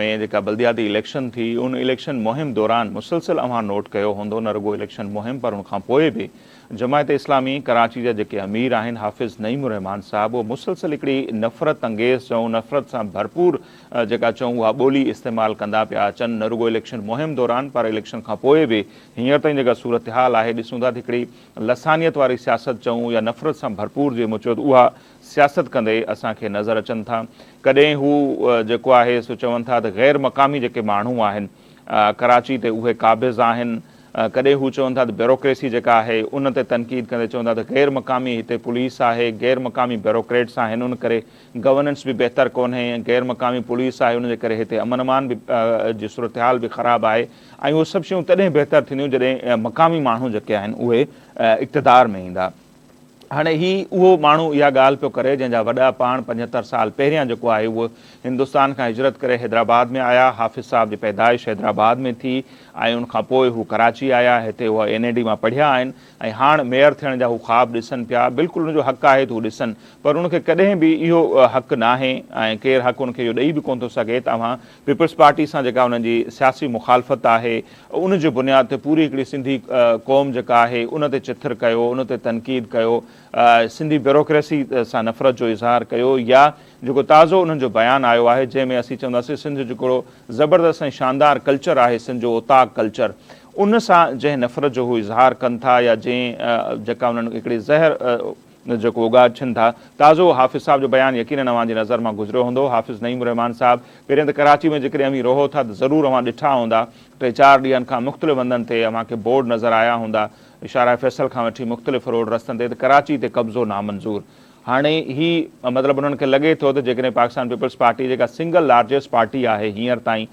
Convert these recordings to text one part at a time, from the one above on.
۾ جيڪا بلدياتي اليڪشن ٿي، ان اليڪشن مهم دوران مسلسل اوهان نوٽ ڪيو هوندو نه رڳو اليڪشن مهم پر ان کانپوء به جماعت اسلامي ڪراچي جا جيڪي امير آهن حافظ نعيم الرحمان صاحب اهو مسلسل هڪڙي نفرت انگيز چئون نفرت سان ڀرپور جيڪا چئون اها ٻولي استعمال ڪندا پيا اچن نه رڳو اليڪشن مهم دوران پر اليڪشن کانپوء به هينئر تائين جيڪا صورتحال آهي ڏسون ٿا ته هڪڙي لسانيت واري سياست چئون يا نفرت سان ڀرپور جي مون چيو ته اها سياست ڪندي اسان کي نظر اچن ٿا. ڪڏهن هو جيڪو آهي سو چون ٿا ته غير مقامي جيڪي ماڻهو آهن ڪراچي تي اهي قابض آهن. ڪڏهن هو چون ٿا ته بيروڪريسي جيڪا آهي ان تي تنقيد ڪندي چون ٿا ته غير مقامي هتي پوليس آهي، غير مقامي بيروڪريٽس آهن ان ڪري گورننس به بهتر ڪونهي ۽ غير مقامي پوليس آهي ان جي ڪري هتي امن امان به جي صورتحال به خراب آهي ۽ اهي سڀ شيون تڏهن بهتر ٿينديون جڏهن مقامي ماڻهو جيڪي آهن اهي اقتدار ۾ ايندا. هاڻي هي اهو ماڻهو اها ڳالهه پيو ڪري جنهن جا وڏا پاڻ پنجهتر سال پهريان جيڪو آهي اهو هندستان کان هجرت ڪري حيدرآباد ۾ آيا حافظ صاحب جي پيدائش حيدرآباد ۾ ٿي ۽ ان کان پوء هو ڪراچي آيا هتي اهو اين اي ڊي مان پڙهيا آهن ۽ هاڻ ميئر ٿيڻ جا هو خواب ڏسن پيا بلڪل ان جو حق آهي ته هو ڏسن پر ان کي ڪڏهن به اهو حق ناهي ۽ ڪير حق ان کي اهو ڏئي به ڪونه ٿو سگهي ته اوهان پيپلز پارٽي سان جيڪا انهن جي سياسي مخالفت آهي ان جي بنياد تي پوري هڪڙي سنڌي قوم جيڪا آهي ان تي چٿر ڪيو ان تي تنقيد ڪيو سنڌي بيوروڪريسي سان نفرت جو اظهار ڪيو يا جيڪو تازو انهن جو بيان آيو آهي جنهن ۾ اسين چونداسين سنڌ جيڪڙو زبردست ۽ شاندار ڪلچر آهي سنڌ جو اوطاق ڪلچر ان سان جنهن نفرت جو هو اظهار ڪن ٿا يا جنهن جيڪا انهن هڪڙي زهر جيڪو اوڳاڇن ٿا. تازو حافظ صاحب جو بيان يقينن اوهان جي نظر مان گذريو هوندو حافظ نعيم الرحمان صاحب پهرين ته ڪراچي ۾ جيڪڏهن اوهين رهو ٿا ته ضرور اوهان ڏٺا هوندا ٽي چار ڏينهن کان مختلف هنڌن تي اوهان کي بورڊ نظر آيا هوندا شارع فيصل کان وٺي مختلف روڊ رستن تي ته ڪراچي تي قبضو نامنظور هاڻي هي مطلب انهن کي لڳي ٿو ته جيڪڏهن پاڪستان پيپلز پارٽي جيڪا سنگل لارجيسٽ پارٽي آهي هينئر تائين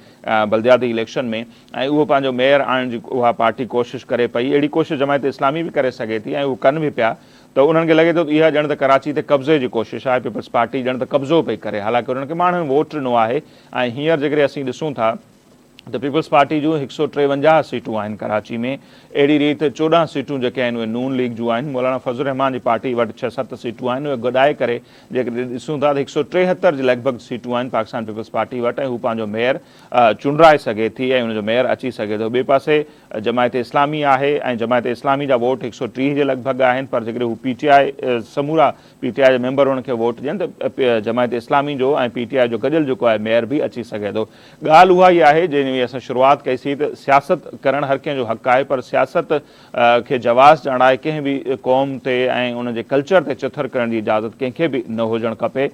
بلدياتي اليڪشن ۾ ۽ اهو پنهنجو ميئر آڻڻ جي اها پارٽي ڪوشش ڪري پئي اهڙي ڪوشش جماعت اسلامي به ڪري سگهي ٿي ۽ اهو ڪن به پيا ته انهن کي لڳي ٿو ته اها ڄڻ ته ڪراچي تي قبضي جي ڪوشش آهي، پيپلز پارٽي ڄڻ ته قبضو پئي ڪري حالانڪه انهن کي ماڻهن ووٽ ڏنو آهي ۽ هينئر جيڪڏهن اسين ڏسون ٿا ته پيپلز پارٽي جون هڪ سؤ ٽيونجاهه سيٽون آهن ڪراچي ۾ اهڙي ريت چوڏهن سيٽون جيڪي آهن اهي نون ليگ جون آهن مولانا فضل الرحمان جي پارٽي وٽ ڇهه ست سيٽون آهن اهي گڏائي ڪري جيڪڏهن ڏسون ٿا ته هڪ سؤ ٽيهتر جي لڳ ڀڳ سيٽون آهن پاڪستان پيپلز پارٽي وٽ ۽ هو پنهنجو ميئر چونڊرائي سگهي ٿي ۽ ان جو ميئر اچي سگهي ٿو. ٻئي پاسي جماعت اسلامي آهي ۽ جماعت اسلامي جا ووٽ هڪ سؤ ٽيهه جي لڳ ڀڳ آهن پر جيڪڏهن هو پي ٽي آء سمورا پي ٽي آء جا ميمبر انهن کي ووٽ ڏين ته جماعت اسلامي جو ۽ پي ٽي آء جو گڏيل جيڪو آهي ميئر به اچي سگهي ٿو. ڳالهه اها ئي آهي جنهن جي اسان شروعات ڪئي سي ته سياست ڪرڻ هر ڪنهن جو حق آهي پر سياست کي جواز ڏيڻ لاء ڪنهن به قوم تي ۽ ان جي ڪلچر تي چٿر ڪرڻ جي اجازت ڪنهن کي به نه هجڻ کپي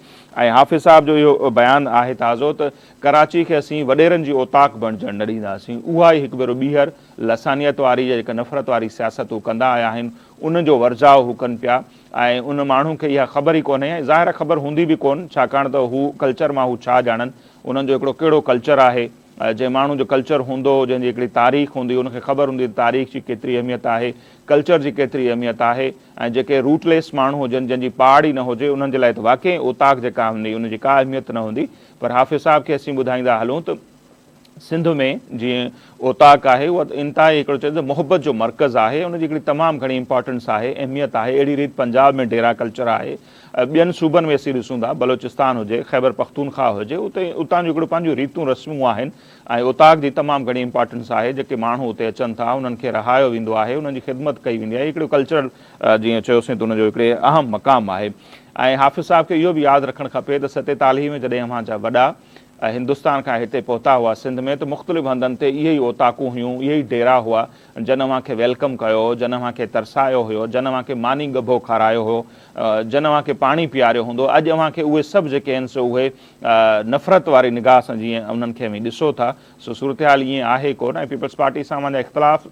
۽ حافظ صاحب جو اهو بيان آهي تازو ته ڪراچي کي اسين وڏيرن جي اوطاق بڻجڻ نه ڏينداسين، اها ئي هڪ ڀيرو ٻيهر لسانيت واري يا جيڪا نفرت واري سياست هو ڪندا آيا آهن، ان جو ورجاء هو ڪن پيا ۽ ان ماڻهو کي اها خبر ئي ڪونهي ۽ ظاهر آهي خبر هوندي به ڪون ڇاڪاڻ ته هو ڪلچر مان هو ڇا ڄاڻن، انهن جو هڪڙو ڪهڙو ڪلچر آهي، جنهن ماڻهو جو ڪلچر هوندو، جنهن جي هڪڙي تاريخ هوندي، ان کي خبر هوندي ته تاريخ جي ڪيتري اهميت آهي، ڪلچر جي ڪيتري اهميت آهي ۽ جيڪي روٽليس ماڻهو هجن، جنهن جي پاڙ ئي نه هجي، انهن جي لاء ته واقعي اوطاق جيڪا هوندي، ان جي ڪا اهميت نه هوندي، پر حافظ صاحب کي اسين ٻڌائيندا هلون ته سنڌ ۾ جيئن اوطاق آهي اها انتهائي هڪڙو چئجي ته محبت جو مرڪز آهي ان جي هڪڙي تمام گهڻي امپارٽنس آهي اهميت آهي اهڙي ريت پنجاب ۾ ڊيرا ڪلچر آهي ٻين صوبن ۾ اسين ڏسون ٿا بلوچستان هجي خيبر پختونخواهه هجي اتي اتان جون هڪڙيون پنهنجون ريتون رسمون آهن ۽ اوطاق جي تمام گهڻي امپارٽنس آهي جيڪي ماڻهو اتي اچن ٿا انهن کي رهايو ويندو آهي انهن جي خدمت ڪئي ويندي آهي هڪڙو ڪلچرل جيئن چيوسين ته ان جو هڪڙي اهم مقام آهي ۽ حافظ صاحب کي اهو به ياد رکڻ کپي ته ستيتالهي ۾ جڏهن اوهان جا وڏا هندستان کان هتي پهتا هئا سنڌ ۾ ته مختلف هنڌن تي اهي ئي اوطاقون هيون، اهي ئي ڊيرا هئا جن اوهان کي ويلڪم ڪيو هو، جن اوهان کي ترسايو هيو، جن اوهان کي ماني ڳڀو کارايو هيو، جن اوهان کي پاڻي پياريو هوندو، اڄ اوهان کي اهي سڀ جيڪي آهن سو اهي نفرت واري نگاهه سان جيئن انهن کي اوهين ڏسو ٿا سو صورتحال ائين آهي ڪونه ۽ پيپلز پارٽي سان اوهان جا اختلاف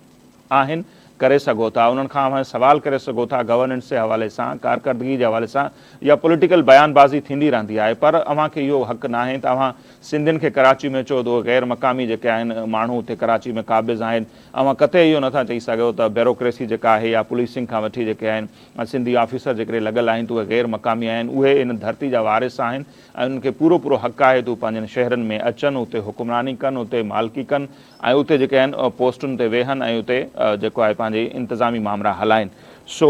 آهن ڪري سگهو ٿا انهن کان اوهان سوال ڪري سگهو ٿا گورننس جي حوالي سان ڪارڪردگي جي حوالي سان يا پوليٽيڪل بيان بازي ٿيندي رهندي آهي پر اوهان کي اهو حق ناهي ته اوهان سنڌين کي ڪراچي ۾ چئو ته اهي غير مقامي جيڪي آهن ماڻهو اتي ڪراچي ۾ قابض آهن اوهان قطعي اهو نٿا چئي سگهو ته بيروڪريسي جيڪا آهي يا پوليسنگ کان وٺي جيڪي آهن سنڌي آفيسر جيڪڏهن لڳل آهن ته اهي غير مقامي آهن اهي ان ڌرتي جا وارث آهن ۽ انهن کي پورو پورو حق آهي ته هو پنهنجن شهرن ۾ اچن اتي حڪمراني ڪن اتي مالڪي ڪن ۽ اتي جيڪي آهن پوسٽن تي ويهن ۽ اتي جيڪو آهي پنهنجي انتظامي مامرا هلائين سو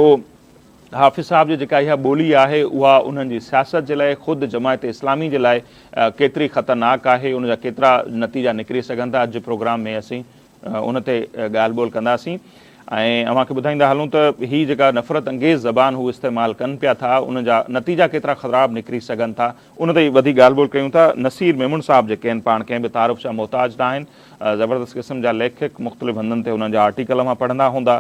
حافظ صاحب جي جيڪا اها ٻولي آهي اها انهن جي سياست جي لاء خود جماعت اسلامي جي لاء ڪيتري خطرناڪ آهي ان جا ڪيترا نتيجا نڪري سگهن ٿا اڄ جي پروگرام ۾ اسين ان تي ڳالهه ٻولهه ڪنداسين ۽ اوهان کي ٻڌائيندا هلون ته هي جيڪا نفرت انگيز زبان هو استعمال ڪن پيا ٿا ان جا نتيجا ڪيترا خراب نڪري سگهن ٿا ان تي وڌيڪ ڳالهه ٻولهه ڪيون ٿا. نصير ميمڻ صاحب جيڪي آهن پاڻ ڪنهن به تعارف جا محتاج نه آهن. زبردست قسم جا ليکڪ مختلف هنڌن تي انهن جا آرٽيڪل اوهان پڙهندا هوندا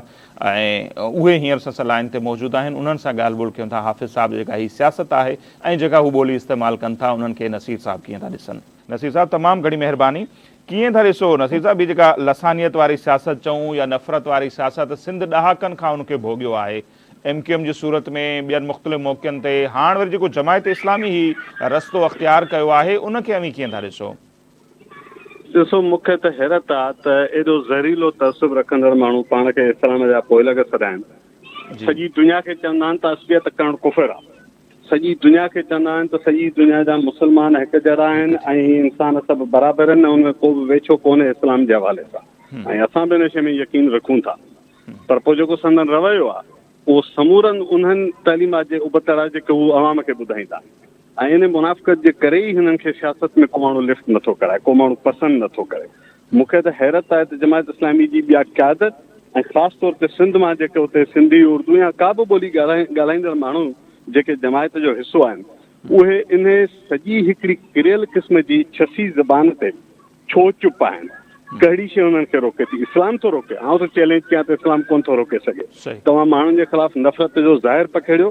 ۽ اهي هينئر سسئ لائين تي موجود آهن انهن سان ڳالهه ٻولهه ڪيون ٿا حافظ صاحب جي جيڪا هي سياست آهي ۽ جيڪا هو ٻولي استعمال ڪن ٿا انهن کي نصير صاحب ڪيئن ٿا ڏسن. نصير صاحب تمام گهڻي مهرباني. ڪيئن ٿا ڏسو نصير صاحب هي جيڪا لسانيت واري سياست چئون يا نفرت واري سياست سنڌ ڏهاڪن کان ان کي ڀوڳيو آهي ايم ڪيو ايم جي صورت ۾ ٻين مختلف موقعن تي هاڻ وري جيڪو جماعت اسلامي هي رستو اختيار ڪيو آهي ان کي اوهين ڪيئن ٿا ڏسو؟ ڏسو مون کي ته حيرت آ ته ايڏو زهريلو تعصب رکندڙ ماڻهو پاڻ کي اسلام جا پوئلڳ سڏائن سڄي دنيا کي چوندا آهن ته عصبيت ڪرڻ ڪفر آ سڄي دنيا کي چوندا آهن ته سڄي دنيا جا مسلمان هڪ جهڙا آهن ۽ انسان سڀ برابر آهن ۽ ان ۾ ڪو به ويڇو ڪونهي اسلام جي حوالي سان ۽ اسان به ان شي ۾ يقين رکون ٿا پر پوء جيڪو سندن رويو آهي اهو سمورن انهن تعليمات جي ابتڙ آهي جيڪي هو عوام کي ٻڌائيندا ۽ ان منافقت جي ڪري ئي هنن کي سياست ۾ ڪو ماڻهو لفٽ نٿو ڪرائي ڪو ماڻهو پسند نٿو ڪري مون کي ته حيرت آهي ته جماعت اسلامي جي ٻيا قيادت ۽ خاص طور تي سنڌ مان جيڪي اتي سنڌي اردو يا ڪا به ٻولي ڳالهائيندڙ ماڻهو جيڪي جماعت جو حصو آهن اهي انهي سڄي هڪڙي ڪريل قسم جي ڇسي زبان تي ڇو چپ آهن؟ ڪهڙي شيء انهن کي روڪي ٿي؟ اسلام ٿو روڪي؟ آئون ٿو چئلينج ڪيان ته اسلام ڪونه ٿو روڪي سگهي. توهان ماڻهن جي خلاف نفرت جو ظاهر پکيڙيو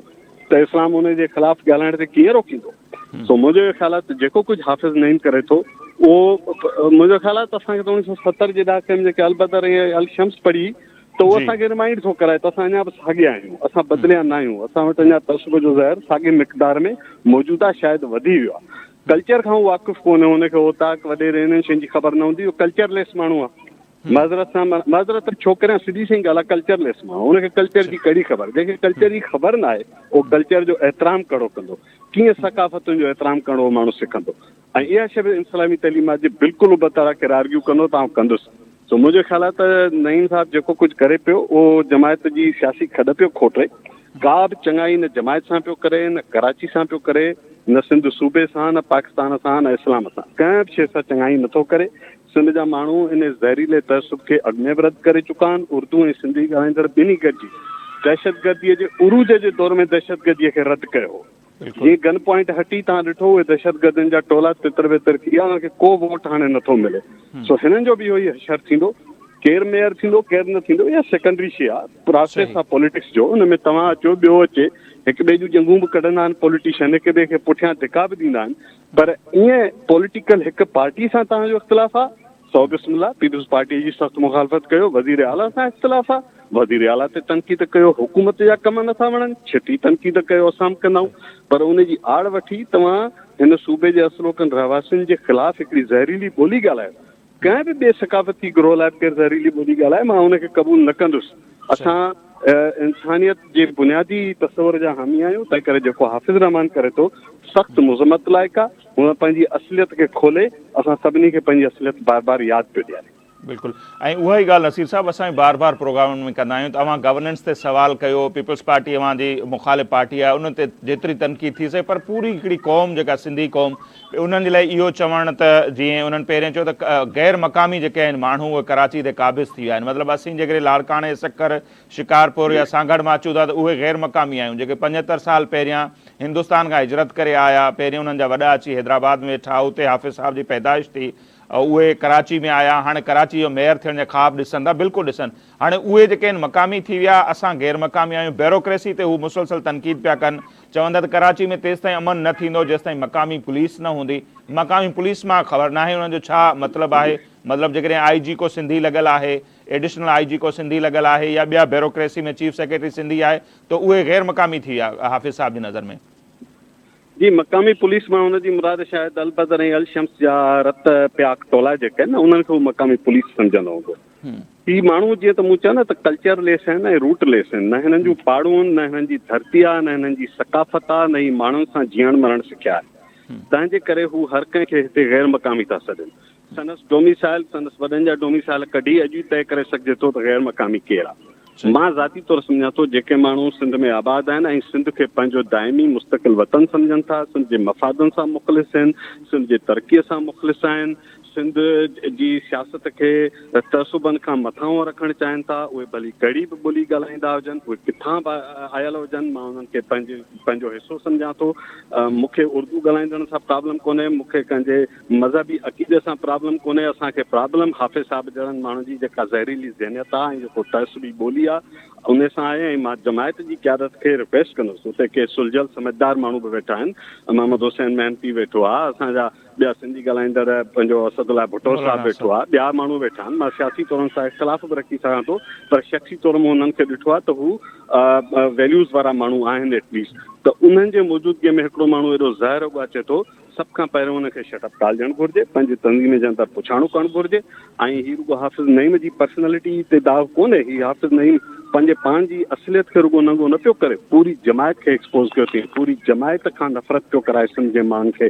ته اسلام انهن جي خلاف ڳالهائڻ تي ڪيئن روڪيندو؟ سو منهنجو اهو خيال آهي ته جيڪو ڪجهه حافظ نعيم ڪري ٿو اهو منهنجو خيال آهي ته اسان کي ته اوڻيهه سؤ ستر جي ڏهاڪي ۾ جيڪي البدر ۽ الشمس پڙهي ته اهو اسان کي رمائنڊ ٿو ڪرائي ته اسان اڃا به ساڳيا آهيون، اسان بدليا نه آهيون، اسان وٽ اڃا تعصب جو زهر ساڳي مقدار ۾ موجود آهي، شايد وڌي ويو آهي. ڪلچر کان هو واقف ڪونهي، هن کي اوطاق، وڏيري انهن شين جي خبر نه هوندي، هو ڪلچر ليس ماڻهو آهي. معذرت سان معذرت ته ڇو ڪريان سڌي سئي ڳالهه آهي ڪلچر ليس ماڻهو هن کي ڪلچر جي ڪهڙي خبر جنهن کي ڪلچر جي خبر نه آهي اهو ڪلچر جو احترام ڪهڙو ڪندو ڪيئن ثقافتن جو احترام ڪرڻو ماڻهو سکندو ۽ اها شيء به انسلامي تعليمات جي بلڪل ابتڙ آ ڪير آرگيو ڪندو ته آئون ڪندس سو منهنجو خيال آ ته نعيم صاحب جيڪو ڪجهه ڪري پيو اهو جماعت جي سياسي کڏ پيو کوٽي ڪا به چڱائي نه جماعت سان پيو ڪري نه ڪراچي سان پيو ڪري نه سنڌ صوبي سان نه پاڪستان سان نه اسلام سان ڪنهن به شيء سان چڱائي نه ٿو ڪري سنڌ جا ماڻهو ان زهريلي تعصب کي اڳ ۾ به رد ڪري چڪا آهن اردو ۽ سنڌي ڳالهائيندڙ ٻنهي گڏجي دهشتگرديء جي عروج جي دور ۾ دهشتگرديء کي رد ڪيو هو جي گن پوائنٽ هٽي توهان ڏٺو اهي دهشتگردن جا ٽولا تتر بتر ٿي ويا انهن کي ڪو ووٽ هاڻي نه ٿو ملي سو هنن جو به اهو ئي حشر ٿيندو ڪير ميئر ٿيندو ڪير نه ٿيندو اها سيڪنڊري شي آهي پراسيس آهي پوليٽڪس جو ان ۾ توهان اچو ٻيو اچي هڪ ٻئي جون ڄنگهون به ڪڍندا آهن پوليٽيشن هڪ ٻئي کي پٺيان ڌڪا به ڏيندا آهن پر ائين پوليٽيڪل هڪ پارٽي سان توهان جو اختلاف آهي سو بسم الله پيپلز پارٽي جي سخت مخالفت ڪيو وزير اعليٰ سان اختلاف آ وزير اعليٰ تي تنقيد ڪيو حڪومت جا ڪم نٿا وڻن ڇٽي تنقيد ڪيو اسان به ڪندائون پر ان جي آڙ وٺي توهان هن صوبي جي اصلوڪن رهواسين جي خلاف هڪڙي زهريلي ٻولي ڳالهايو ڪنهن به ٻي ثقافتي گروه لاء به ڪير زهريلي ٻولي ڳالهائي مان ان کي قبول نه ڪندس اسان انسانيت جي بنيادي تصور جا حامي آهيون تنهن ڪري جيڪو حافظ رحمان ڪري ٿو سخت مذمت لائق آ هونء پنهنجي اصليت کي کولي اسان سڀني کي پنهنجي اصليت بار بار ياد پيو ڏياري. بلڪل ۽ اها ئي ڳالهه نصير صاحب اسان به بار بار پروگرامن ۾ ڪندا آهيون ته اوهان گورننس تي سوال ڪيو پيپلز پارٽي اوهان جي مخالف پارٽي آهي ان تي جيتري تنقيد ٿي سگهي پر پوري هڪڙي قوم جيڪا سنڌي قوم انهن جي لاء اهو چوڻ ته جيئن انهن پهرين چيو ته غير مقامي جيڪي آهن ماڻهو اهي ڪراچي تي قابض ٿي ويا آهن مطلب اسين جيڪڏهن لاڙڪاڻي سکر شڪارپور يا سانگهڙ مان اچون ٿا ته اهي غير مقامي آهيون جيڪي پنجهتر سال پهريان هندستان کان هجرت ڪري آيا پهرين انهن جا وڏا اچي حيدرآباد ۾ ويٺا اتي حافظ صاحب جي پيدائش ٿي اهي ڪراچي ۾ آيا هاڻي ڪراچي جو ميئر ٿيڻ جا خواب ڏسن ٿا بلڪل ڏسن هاڻي اهي جيڪي آهن مقامي ٿي ويا اسان غير مقامي آهيون بيروڪريسي تي هو مسلسل تنقيد پيا ڪن چون ٿا ته ڪراچي ۾ تيستائين امن نه ٿيندو جيستائين مقامي پوليس نه هوندي مقامي پوليس مان خبر ناهي انهن جو ڇا مطلب آهي مطلب جيڪڏهن آئي جي ڪو سنڌي لڳل آهي ايڊيشنل آء جي ڪو سنڌي لڳل آهي يا ٻيا بيروڪريسي ۾ چيف سيڪريٽري سنڌي آهي ته اهي غير مقامي ٿي ويا حافظ صاحب جي نظر ۾؟ جي مقامي پوليس مان ان جي مراد شايد البدر ۽ الشمس جا رت پياڪ ٽولا جيڪي آهن نه انهن کي هو مقامي پوليس سمجهندو هوندو. هي ماڻهو جيئن ته مون چيو نه ته ڪلچر ليس آهن ۽ روٽ ليس آهن نه هنن جون پاڙون نه هنن جي ڌرتي آهي نه هنن جي ثقافت آهي نه هي ماڻهن سان جيئڻ مرڻ سکيا آهن تنهن جي ڪري هو هر ڪنهن کي هتي غير مقامي ٿا سڏن سندس ڊوميسائل، سندس وڏن جا ڊوميسائل ڪڍي اڄ ئي طئي ڪري سگهجي ٿو ته غير مقامي ڪير آ. مان ذاتي طور سمجهان ٿو جيڪي ماڻهو سنڌ ۾ آباد آهن ۽ سنڌ کي پنهنجو دائمي مستقل وطن سمجهن ٿا، سنڌ جي مفادن سان مخلص هن، سنڌ جي ترقي سان مخلص آهن، سنڌ جي سياست کي تعصبن کان مٿانهون رکڻ چاهين ٿا، اهي ڀلي ڪهڙي به ٻولي ڳالهائيندا هجن، اهي ڪٿان به آيل هجن، مان انهن کي پنهنجو حصو سمجهان ٿو. مون کي اردو ڳالهائيندڙن سان پرابلم ڪونهي، مون کي ڪنهن جي مذهبي عقيدي سان پرابلم ڪونهي اسان کي پرابلم حافظ صاحب جهڙن ماڻهن جي جيڪا زهريلي ذهنيت آ ۽ جيڪو تعصبي ٻولي آ ان سان آهي ۽ مان جماعت جي قيادت کي رڪويسٽ ڪندس اتي ڪي سلجهيل سمجهدار ماڻهو به ويٺا آهن محمد حسين محنتي ويٺو آ اسان جا ٻيا سنڌي ڳالهائيندڙ پنهنجو اسد الله ڀٽو صاحب ويٺو آ ٻيا ماڻهو ويٺا آهن مان سياسي طور هن سان اختلاف به رکي سگهان ٿو پر شخصي طور مون هنن کي ڏٺو آ ته هو ويليوز وارا ماڻهو آهن ايٽليسٽ ته انهن جي موجودگي ۾ هڪڙو ماڻهو ايڏو زهر اڳو اچي ٿو سڀ کان پهريون ان کي شٽ اپ ٽالجڻ گهرجي، پنهنجي تنظيم جي اندر پڇاڻو ڪرڻ گهرجي ۽ هي رڳو حافظ نعيم جي پرسنالٽي تي داغ ڪونهي، هي حافظ نعيم پنهنجي پاڻ جي اصليت کي رڳو ننگو نه پيو ڪري، پوري جماعت کي ايڪسپوز ڪيو اٿئين، پوري جماعت کان نفرت پيو ڪرائي سنڌ جي ماڻهن کي،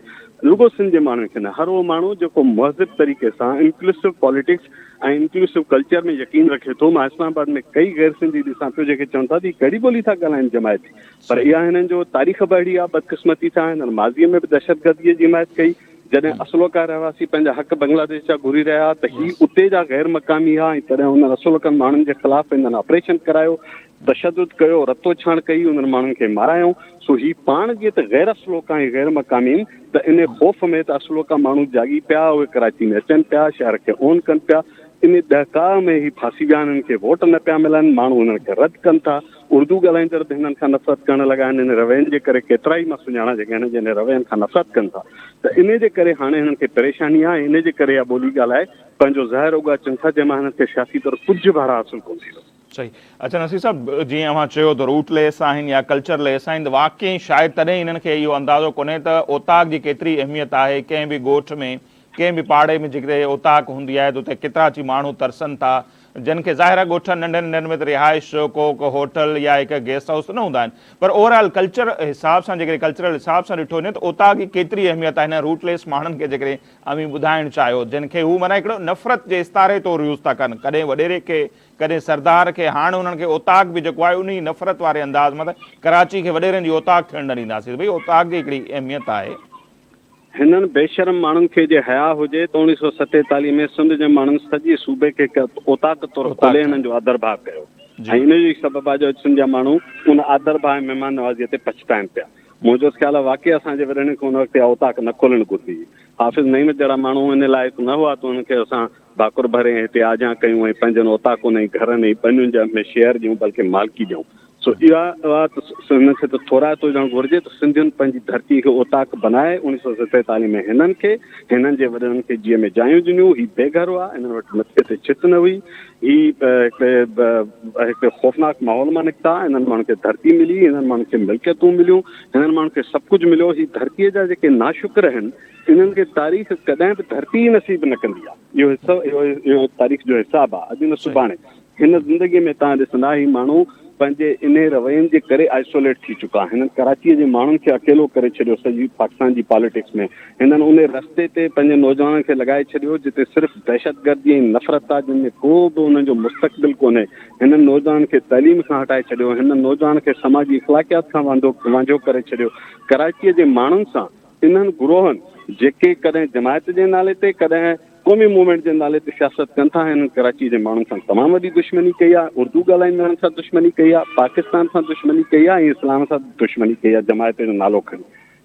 رڳو سنڌ جي ماڻهن کي نه، هر اهو ماڻهو جيڪو مهذب طريقي سان انڪلوسو پاليٽڪس ۽ انڪلوسو ڪلچر ۾ يقين رکي ٿو، مان اسلام آباد ۾ ڪئي غير سنڌي ڏسان پيو جنهن کي چون ٿا ته هي ڪهڙي ٻولي ٿا ڳالهائين جماعتي، پر اها هنن جو تاريخ به اهڙي آهي بدقسمتي سان هنن ماضي ۾ به دهشتگردي جي حمايت ڪئي جڏهن اصلوڪا رهواسي پنهنجا حق بنگلاديش جا گهري رهيا ها ته هي اتي جا غير مقامي ها ۽ تڏهن هنن اصلوڪن ماڻهن جي خلاف هنن آپريشن ڪرايو تشدد ڪيو رتو ڇاڻ ڪئي هنن ماڻهن کي مارايائون سو هي پاڻ جي ته غير اصلوڪا ۽ غير مقامي آهن ته انهي خوف ۾ ته اصلوڪا ماڻهو جاڳي پيا اهي ڪراچي ۾ اچن پيا شهر کي اون ڪن پيا انهي ڏهڪاء ۾ هي ڦاسي ويا آهن هنن کي ووٽ نه پيا ملن ماڻهو هنن کي رد ڪن ٿا اردو ڳالهائيندڙ به هنن کان نفرت ڪرڻ لڳا آهن. انهن روين جي ڪري ڪيترائي مان سڃاڻان جيڪي هنن جي انهن روين کان نفرت ڪن ٿا ته انهي جي ڪري هاڻي هنن کي پريشاني آهي ۽ انهي جي ڪري اها ٻولي ڳالهائي پنهنجو ظاهر اوڳاچن ٿا جنهن مان هنن کي سياسي طور ڪجهه به حاصل ڪونه ٿيندو. صحيح اچا نصير صاحب جيئن اوهان چيو ته روٽ ليس آهن يا ڪلچر ليس آهن ته واقعي شايد تڏهن هنن کي اهو اندازو ڪونهي ته اوطاق جي ڪيتري اهميت آهي ڪنهن به ڳوٺ ۾ ڪنهن به پاڙي ۾ جيڪڏهن اوطاق هوندي آهي ته اتي ڪيترا چي ماڻهو ترسن ٿا جن کي ظاهرا ڳوٺن ننڍن ننڍن ۾ ته رهائش، ڪوڪ، هوٽل يا هڪ گيسٽ هائوس ته نه هوندا آهن پر اوور آل ڪلچر حساب سان جيڪڏهن ڪلچرل حساب سان ڏٺو وڃي ته اوطاق جي ڪيتري اهميت آهي هنن روٽ ليس ماڻهن کي جيڪڏهن اوهين ٻڌائڻ چاهيو جن کي هو معنيٰ هڪڙو نفرت جي استعاري طور يوز ٿا ڪن ڪڏهن وڏيري کي ڪڏهن سردار کي هاڻ هنن کي اوطاق به جيڪو آهي انهي نفرت واري انداز مان ته ڪراچي کي وڏيرن جي اوطاق ٿيڻ نه ڏينداسين ته ڀئي اوطاق جي هڪڙي اهميت آهي. هنن بيشرم ماڻهن کي جي حياء هجي ته اوڻيهه سؤ ستيتاليهه ۾ سنڌ جي ماڻهن سڄي صوبي کي هڪ اوطاق طور کولي هنن جو آڌرڀاء ڪيو ۽ ان جو ئي سبب آهي جو اڄ سنڌ جا ماڻهو ان آڌرڀاء ۽ مهمان نوازيء تي پڇتائين پيا منهنجوت خيال آهي واقعي اسان جي وڏڙن کي ان وقت اها اوطاق نه کولڻ گهربي هئي حافظ نعيمت جهڙا ماڻهو ان لائق نه هئا ته انهن کي اسان ڀاڪر ڀري ۽ هتي آجيان ڪيون ۽ پنهنجن اوطاقن ۽ گهرن ۽ ٻنين جا ۾ شيئر ڏيون بلڪه مالڪي ڏيون سو اها اها ته هن کي ته ٿورائتو هجڻ گهرجي ته سنڌين پنهنجي ڌرتي کي اوطاق بنائي اڻيهه سؤ ستيتاليهه ۾ هنن کي هنن جي وڏڙن کي جيء ۾ جايون ڏنيون هي بي گهر هئا هنن وٽ مٿي تي ڇت نه هئي هي هڪڙي هڪڙي خوفناڪ ماحول مان نڪتا هنن ماڻهن کي ڌرتي ملي هنن ماڻهن کي ملڪيتون مليون هنن ماڻهن کي سڀ ڪجهه مليو هي ڌرتي جا جيڪي ناشڪر آهن انهن کي تاريخ ڪڏهن به ڌرتي ئي نصيب نه ڪندي آ. اهو اهو تاريخ جو حساب آ اڄ نه سڀاڻي. هن زندگي ۾ توهان ڏسندا هي ماڻهو پنهنجي انهي روين جي ڪري آئسوليٽ ٿي چڪا. هنن ڪراچيء جي ماڻهن کي اڪيلو ڪري ڇڏيو سڄي پاڪستان جي پاليٽڪس ۾. هنن انهي رستي تي پنهنجن نوجوانن کي لڳائي ڇڏيو جتي صرف دهشتگردي ۽ نفرت آ جن ۾ ڪو به انهن جو مستقبل ڪونهي. هنن نوجوانن کي تعليم کان هٽائي ڇڏيو. هنن نوجوانن کي سماجي اخلاقيات کان وانجهو ڪري ڇڏيو. ڪراچيء جي ماڻهن سان. انهن گروهن جيڪي ڪڏهن جماعت جي نالي تي ڪڏهن قومي موومينٽ جي نالي تي سياست ڪن ٿا هنن ڪراچي جي ماڻهن سان تمام وڏي دشمني ڪئي آهي اردو ڳالهائيندڙن سان دشمني ڪئي آهي پاڪستان سان دشمني ڪئي آهي ۽ اسلام سان دشمني ڪئي آهي جماعت جو نالو کڻي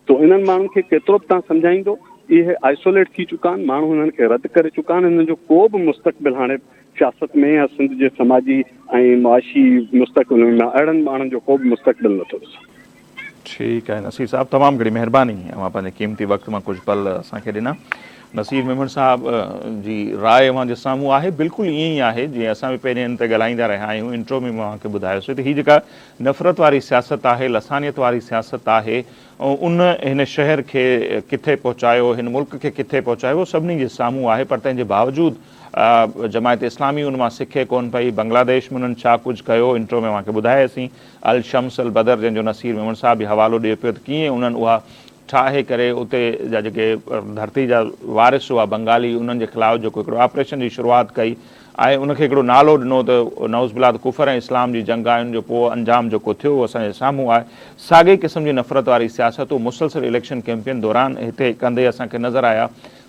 تو انهن ماڻهن کي ڪيترو به تان سمجهائيندو اهي آئسوليٽ ٿي چڪا آهن ماڻهو هنن کي رد ڪري چڪا آهن هنن جو ڪو به مستقبل هاڻي سياست ۾ يا سنڌ جي سماجي ۽ معاشي مستقبل ۾ اهڙن ماڻهن جو ڪو به مستقبل نٿو ڏسان ٺيڪ آهي نصير صاحب تمام گهڻي مهرباني اوهان پنهنجي قيمتي وقت مان ڪجهه پل اسان کي ڏنا. نصير ميمڻ صاحب جي راء اوهان جي سامهون آهي بلڪل ائين ئي آهي جيئن اسان به پهرين ان تي ڳالهائيندا رهيا آهيون انٽرو ۾ به اوهان کي ٻڌايو سي ته هي جيڪا نفرت واري سياست آهي لسانيت واري سياست آهي ان هن شهر کي ڪٿي پهچايو هن ملڪ کي ڪٿي پهچايو اهو سڀني جي سامهون آهي پر تنهن جي باوجود جماعت اسلامي ان مان سکي ڪون پئي بنگلاديش ۾ انهن ڇا ڪجهه ڪيو انٽرو ۾ اوهان کي ٻڌاياسين الشمس البدر جنهن جو نصير ميمڻ صاحب به حوالو ڏئي پيو ته ڪيئن انهن اها ٺاهي ڪري اتي جا جيڪي ڌرتي جا وارث هئا بنگالي انهن جي خلاف جيڪو هڪڙو آپريشن جي شروعات ڪئي ۽ ان کي هڪڙو نالو ڏنو ته نعوذ بالله ته ڪفر ۽ اسلام جي جنگ آهي ان جو پوء انجام جيڪو ٿيو اهو اسان جي سامهون آهي ساڳئي قسم جي نفرت واري سياست هو مسلسل اليڪشن ڪيمپين دوران هتي ڪندي اسان کي نظر آيا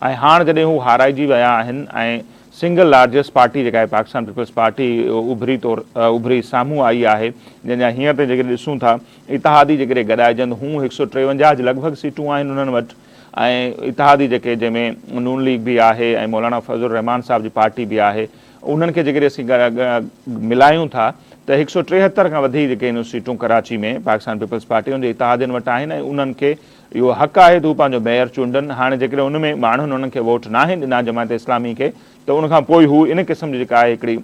۽ هاڻ جڏهن هو هارائجي ويا آهن ۽ سنگل لارجسٽ پارٽي جيڪا آهي پاڪستان پيپلز پارٽي اڀري طور اڀري سامهون آئي آهي جنهن جا هينئر تائين جيڪڏهن ڏسون ٿا اتحادي جيڪڏهن گڏائجن هون هڪ سؤ ٽيونجاهه جي لڳ ڀڳ سيٽون آهن انهن وٽ ۽ اتحادي جيڪي جنهن ۾ نون ليگ به آهي ۽ مولانا فضل الرحمان صاحب جي پارٽي به آهي انهن کي جيڪڏهن اسين ملايون ٿا ته هڪ سؤ ٽيهتر کان وڌيڪ جيڪي سيٽون ڪراچي ۾ پاڪستان پيپلز پارٽي ان جي اتحادين وٽ آهن ۽ انهن کي اهو حق آهي ته هو پنهنجو ميئر چونڊن، هاڻي جيڪڏهن ان ۾ ماڻهن انهن کي ووٽ ناهن ڏنا جماعت اسلامي کي ته ان کان پوء هو ان قسم جي جيڪا آهي هڪڙي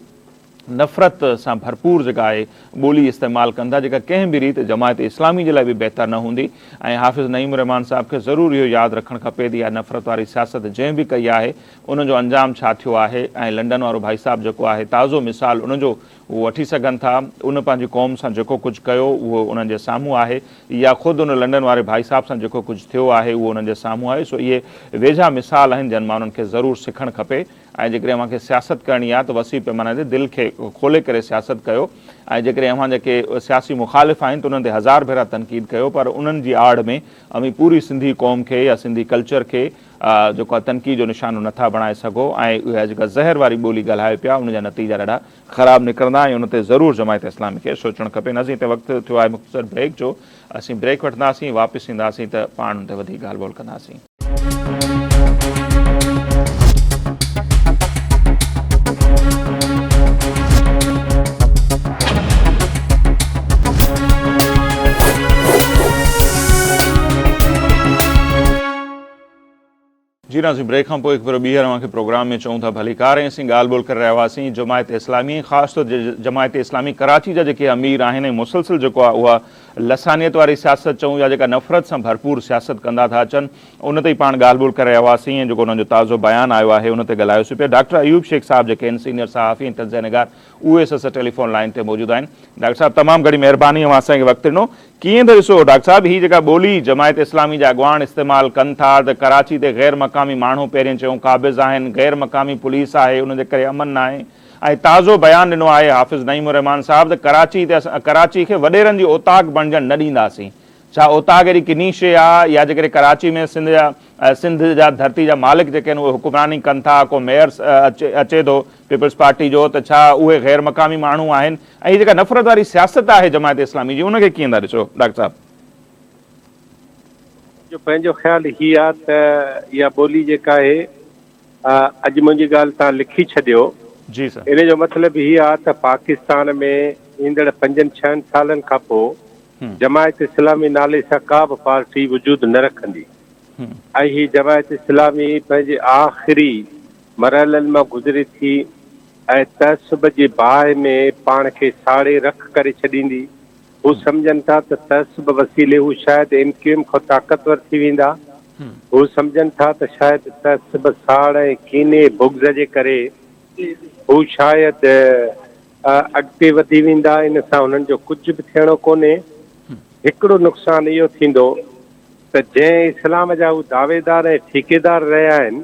نفرت سان ڀرپور جيڪا آهي ٻولي استعمال ڪندا جيڪا ڪنهن به ريت جماعت اسلامي جي لاء به بهتر نه هوندي ۽ حافظ نعيم الرحمان صاحب کي ضرور اهو ياد رکڻ کپي ته اها نفرت واري سياست جنهن به ڪئي آهي ان جو انجام ڇا ٿيو آهي ۽ لنڊن وارو ڀائي صاحب جيڪو آهي تازو مثال ان جو هو وٺي سگهن ٿا. ان پنهنجي قوم سان جيڪو ڪجهه ڪيو، اهو انهن جي سامهون آهي. يا خود ان لنڊن واري ڀائي صاحب سان جيڪو ڪجهه ٿيو آهي، اهو انهن جي سامهون آهي. سو اهي ويجها مثال آهن، جن مان انهن کي ضرور سکڻ کپي. ۽ جيڪڏهن اوهان کي سياست ڪرڻي آهي ته وسيع پيماني تي دل کي کولي ڪري سياست ڪيو. ۽ جيڪڏهن اوهان جا ڪي سياسي مخالف آهن ته انهن تي هزار ڀيرا تنقيد ڪيو، پر انهن جي آڙ ۾ اوهين پوري سنڌي قوم کي يا سنڌي ڪلچر کي جيڪو اوهان تنقيد جو نشانو نٿا بڻائي سگهو ۽ اها جيڪا زهر واري ٻولي ڳالهايو پيا ان جا نتيجا ڏاڍا خراب نڪرندا ۽ ان تي ضرور جماعت اسلامي کي سوچڻ کپي ناظرين تي وقت ٿيو آهي مختصر بريڪ جو اسين بريڪ وٺنداسين واپس اينداسين ته پاڻ ان تي وڌيڪ ڳالهه ٻولهه ڪنداسين. جي ناصر بريڪ کان پوء هڪ ڀيرو ٻيهر اوهان کي پروگرام ۾ چئون ٿا ڀليڪار ۽ اسين ڳالهه ٻولهه ڪري رهيا هئاسين جماعت اسلامي ۽ خاص طور جماعت اسلامي ڪراچي جا جيڪي امير آهن ۽ مسلسل جيڪو آهي اها لسانيت واري سياست چئون يا جيڪا نفرت سان ڀرپور سياست ڪندا ٿا اچن ان تي پاڻ ڳالهه ٻولهه ڪري رهيا هئاسين ۽ جيڪو انهن جو تازو بيان آيو آهي ان تي ڳالهايوسين پيا ڊاڪٽر ايوب شيخ صاحب جيڪي آهن سينئر صحافي ۽ تجزيه نگار اهي سسٽر ٽيليفون لائين تي موجود آهن. ڊاڪٽر صاحب تمام گهڻي مهرباني اوهان اسان کي وقت ڏنو. ڪيئن ته ڏسو ڊاڪٽر صاحب هي جيڪا ٻولي جماعت اسلامي جا اڳواڻ استعمال ڪن ٿا ته ڪراچي تي غير مقامي ماڻهو پهرين چيو قابض آهن غير مقامي پوليس آهي ان جي ڪري امن ناهي ۽ تازو بيان ڏنو آهي حافظ نعيم الرحمان صاحب ته ڪراچي تي اسان ڪراچي کي وڏيرن جي اوطاق بڻجڻ نه ڏينداسين ڇا اوطاق اهڙي ڪني شيء آ يا جيڪڏهن ڪراچي ۾ سنڌ جا سنڌ جا ڌرتي جا مالڪ جيڪي آهن اهي حڪمراني ڪن ٿا ڪو ميئر اچي ٿو پيپلز پارٽي جو ته ڇا اهي غير مقامي ماڻهو آهن ۽ هي جيڪا نفرت واري سياست آهي جماعت اسلامي جي ان کي ڪيئن ٿا ڏسو ڊاڪٽر صاحب. منهنجو پنهنجو خيال هي آ ته اها ٻولي جيڪا آهي اڄ منهنجي ڳالهه تهان لکي ڇڏيو جي سر. ان جو مطلب هي آ ته پاڪستان ۾ ايندڙ پنجن ڇهن سالن کان پو جماعت اسلامي نالي سان ڪا به پارٽي وجود نه رکندي ۽ هي جماعت اسلامي پنهنجي آخري مرحلن مان گذري ٿي ۽ تعصب جي باهه ۾ پاڻ کي ساڙي رک ڪري ڇڏيندي. هو سمجهن ٿا ته تعصب وسيلي هو شايد ايم ڪيو ايم کان طاقتور ٿي ويندا. هو سمجهن ٿا ته شايد تعصب، ساڙ ۽ ڪيني، بغض جي ڪري هو شايد. اڳتي وڌي ويندا ان سان انهن جو ڪجهه به ٿيڻو ڪونهي هڪڙو نقصان اهو ٿيندو ته جنهن اسلام جا هو دعويدار ۽ ٺيڪيدار رهيا آهن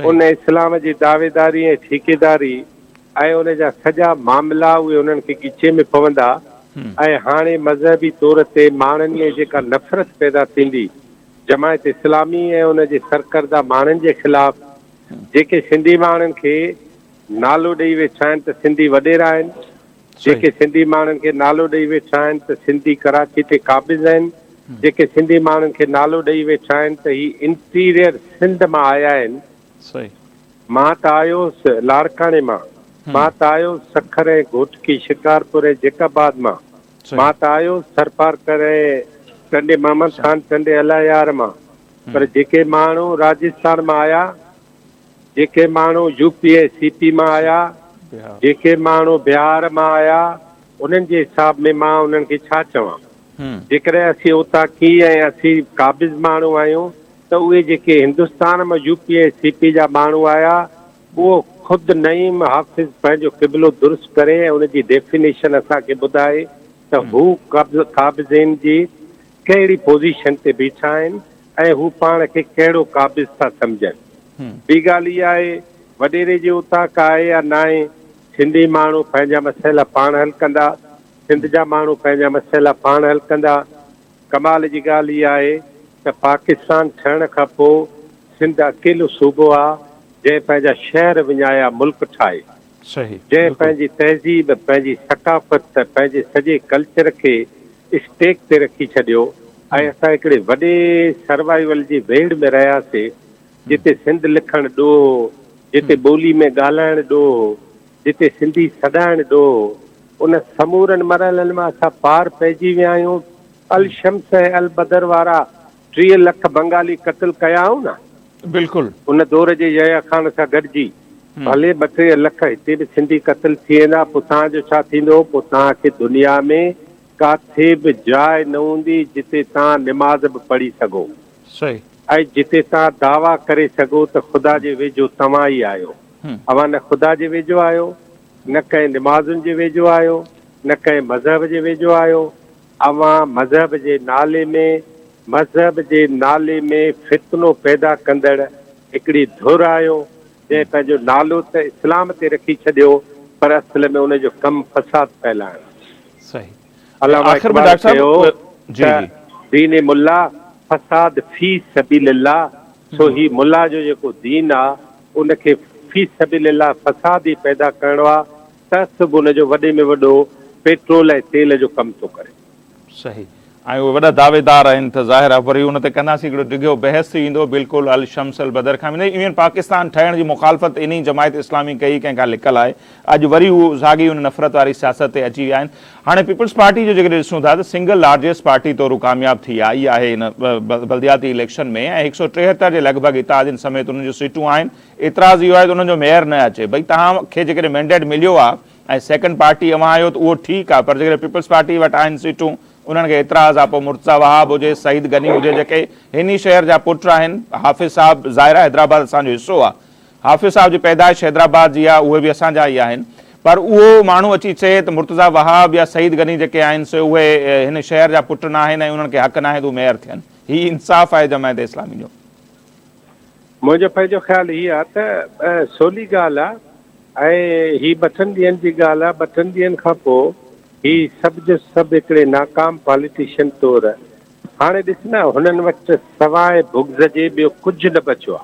ان اسلام جي دعويداري ۽ ٺيڪيداري ۽ ان جا سڄا معاملا اهي انهن کي ڳچي ۾ پوندا ۽ هاڻي مذهبي طور تي ماڻهن ۾ جيڪا نفرت پيدا ٿيندي جماعت اسلامي ۽ ان جي سرڪرده ماڻهن جي خلاف جيڪي سنڌي ماڻهن کي نالو ڏئي ويٺا آهن ته سنڌي وڏيرا آهن، جيڪي سنڌي ماڻهن کي نالو ڏئي ويٺا آهن ته سنڌي ڪراچي تي قابض آهن، جيڪي سنڌي ماڻهن کي نالو ڏئي ويٺا آهن ته هي انٽيريئر سنڌ مان آيا آهن، مان ته آيو هوس لاڙڪاڻي مان، مان ته آيو هوس سکر ۽ گهوٽڪي، شڪارپور ۽ جيڪب آباد مان، مان ته آيو هوس ٿرپارڪر ۽ ٽنڊي محمد خان، ٽنڊي الله يار مان، پر جيڪي ماڻهو راجستان مان آيا، جيڪي ماڻهو يو پي ۽ سي پي مان آيا، جيڪي ماڻهو بهار مان آيا، انهن جي حساب ۾ مان انهن کي ڇا چوان؟ جيڪڏهن اسين اوطاقي ۽ اسين قابض ماڻهو آهيون ته اهي جيڪي هندستان مان يو پي ۽ سي پي جا ماڻهو آيا اهو خود نعيم حافظ پنهنجو قبلو درست ڪري ۽ ان جي ڊيفينيشن اسان کي ٻڌائي ته هو قابضين جي ڪهڙي پوزيشن تي بيٺا آهن ۽ هو پاڻ کي ڪهڙو قابض ٿا سمجهن. ٻي ڳالهه اها آهي وڏيري جي اوطاق آهي يا ناهي، سنڌي ماڻهو پنهنجا مسئلا پاڻ حل ڪندا، سنڌ جا ماڻهو پنهنجا مسئلا پاڻ حل ڪندا. ڪمال جي ڳالهه اها آهي ته پاڪستان ٺهڻ کان پوء سنڌ اڪيلو صوبو آ جنهن پنهنجا شهر وڃايا ملڪ ٺاهي. جنهن پنهنجي تهذيب، پنهنجي ثقافت، پنهنجي سڄي ڪلچر کي اسٽيڪ تي رکي ڇڏيو ۽ اسان هڪڙي وڏي سروائيول جي ويڙهه ۾ رهياسي جتي سنڌ لکڻ ڏوهه هو، جتي ٻولي ۾ ڳالهائڻ ڏوهه هو، جتي سنڌي سڏائڻ ڏوهه هو. ان سمورن مرحلن مان اسان پار پئجي ويا آهيون. الشمس ۽ البدر وارا ٽيهه لک بنگالي قتل ڪيائون نه؟ بلڪل. ان دور جي يحيٰ خان سان گڏجي ڀلي ٻه ٽيهه لک هتي به سنڌي قتل ٿي ويندا پوء توهان جو ڇا ٿيندو؟ پوء توهان کي دنيا ۾ ڪاٿي به جاء نه هوندي جتي توهان نماز به پڙهي سگهو صحيح. ۽ جتي توهان دعويٰ ڪري سگهو ته خدا جي ويجهو توهان ئي آهيو. اوهان نه خدا جي ويجهو آهيو، نه ڪنهن نمازن جي ويجهو آهيو، نه ڪنهن مذهب جي ويجهو آهيو. اوهان مذهب جي نالي ۾ مذهب جي نالي ۾ فتنو پيدا ڪندڙ هڪڙي ڌر آهيو جنهن پنهنجو نالو ته اسلام تي رکي ڇڏيو پر اصل ۾ ان جو ڪم فساد ڦهلائڻ آهي. صحيح ۽ علامه آخر ۾ اقبال ڊاڪٽر صاحب چيو جي ته جي. دين ملا فساد في سبيل الله سو هي ملا جو جيڪو دين آ ان کي في سبيل الله فساد ئي پيدا ڪرڻو آ تس به ان جو وڏي ۾ وڏو پيٽرول ۽ تيل جو ڪم ٿو ڪري. صحيح ۽ اهي وڏا دعويدار آهن ته ظاهر آهي وري ان تي ڪنداسين هڪڙو ڊگهو بحث ٿي ويندو بلڪل الشمس البدر کان ويندي ايون پاڪستان ٺهڻ جي مخالفت انهي جماعت اسلامي ڪئي ڪنهن کان لڪل آهي اڄ وري هو ساڳي ان نفرت واري سياست تي اچي ويا آهن هاڻي پيپلز پارٽي جو جيڪڏهن ڏسون ٿا ته سنگل لارجيسٽ پارٽي طور هو ڪامياب ٿي آئي آهي ان بلدياتي اليڪشن ۾ ۽ هڪ سؤ ٽيهتر جي لڳ ڀڳ اتحادين سميت انهن جون سيٽون آهن اعتراض اهو آهي ته انهن جو ميئر نه اچي. ڀئي توهان کي جيڪڏهن مينڊيٽ مليو آهي ۽ سيڪنڊ پارٽي اوهان آهيو ته اهو ٺيڪ آهي پر جيڪڏهن پيپلز پارٽي وٽ آهن سيٽون انهن کي اعتراض آهي پوء مرتضيٰ وهاب هجي سعيد غني هجي جيڪي هن ئي شهر جا پٽ آهن حافظ صاحب ظاهر آهي حيدرآباد اسان جو حصو آهي حافظ صاحب جي پيدائش حيدرآباد جي آهي اهي به اسان جا ئي آهن پر اهو ماڻهو اچي چئي ته مرتضيٰ وهاب يا سعيد غني جيڪي آهن سي اهي هن شهر جا پٽ ناهن ۽ انهن کي حق ناهي ته هو ميئر ٿين هي انصاف آهي جماعت اسلامي جو. منهنجو پنهنجو خيال هي آ ته سولي ڳالهه آ ۽ هي ٻٽن ڏينهن جي ڳالهه آ، ٻٽن ڏينهن کان پوء هي سڀ جو سڀ هڪڙي ناڪام پاليٽيشن طور هاڻي ڏس نه هنن وٽ سواء بغض جي ٻيو ڪجهه نه بچيو آ.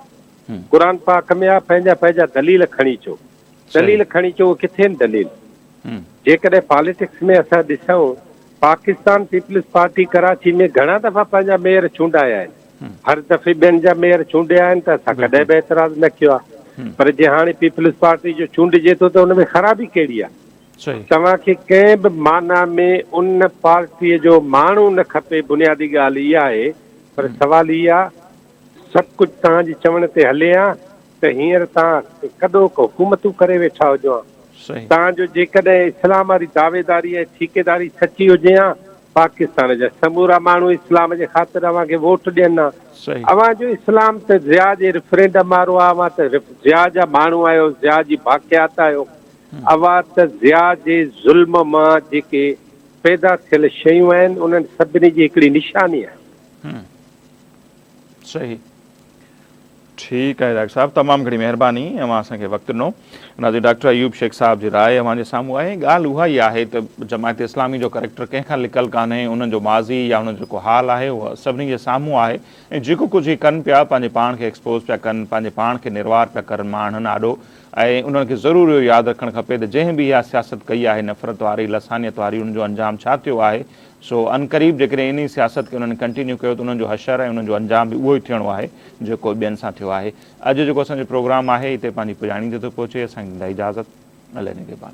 قرآن پاڪ ۾ آ پنهنجا پنهنجا دليل کڻي اچو، دليل کڻي اچو اهي ڪٿي آهن دليل؟ جيڪڏهن پاليٽڪس ۾ اسان ڏسون پاڪستان پيپلز پارٽي ڪراچي ۾ گهڻا دفعا پنهنجا ميئر چونڊايا آهن، هر دفعي ٻين جا ميئر چونڊيا آهن ته اسان ڪڏهن به اعتراض نه ڪيو آهي پر جي هاڻي پيپلز پارٽي جو چونڊجي ٿو ته ان ۾ خرابي ڪهڙي آهي؟ توهان کي ڪنهن به معنيٰ ۾ ان پارٽي جو ماڻهو نه کپي بنيادي ڳالهه اها آهي پر سوال هي آهي سڀ ڪجهه توهان جي چوڻ تي هلي ها ته هينئر توهان ڪڏهوڪ حڪومتون ڪري ويٺا هجو ها توهان جو جيڪڏهن اسلام واري دعويداري ۽ ٺيڪيداري سچي هجي ها پاڪستان جا سمورا ماڻهو اسلام جي خاطر اوهان کي ووٽ ڏين ها. اوهان جو اسلام ته ضياء جي ريفرينڊم وارو آهي. اوهان ته ضياء جا ماڻهو آهيو، ضياء جي باقيات آهيو. اوهان ته ضياء جي ظلم مان جيڪي پيدا ٿيل شيون آهن انهن سڀني جي هڪڙي نشاني آهيو. صحيح ٺيڪ آهي ڊاڪٽر صاحب تمام گھڻي مهرباني اوهان اسان کي وقت ڏنو ناظرين ڊاڪٽر ايوب شيخ صاحب جي راء اوهان جي سامهون آهي ڳالهه اها ئي آهي ته جماعت اسلامي جو ڪريڪٽر ڪنهن کان لڪل ڪانهي انهن جو ماضي يا انهن جو جيڪو حال آهي اهو سڀني جي سامهون آهي ۽ جيڪو ڪجهه هي ڪن پيا پنهنجي پاڻ کي ايڪسپوز پيا ڪن پنهنجي پاڻ کي نروار پيا ڪرن ماڻهن آڏو ۽ انهن کي ضرور اهو ياد رکڻ کپي ته جنهن به اها سياست ڪئي آهي نفرت واري لسانيت واري ان جو انجام ڇا ٿيو آهي سو عنقريب جيڪڏهن انهي سياست کي انهن ڪنٽينيو ڪيو ته انهن جو حشر ۽ انهن جو انجام به اهو ئي ٿيڻو آهي جيڪو ٻين سان ٿيو آهي. اڄ جيڪو اسان جو پروگرام آهي هتي پنهنجي پڄاڻي تي ٿو پهچي اسان کي ڏيندا اجازت الله نگهبان.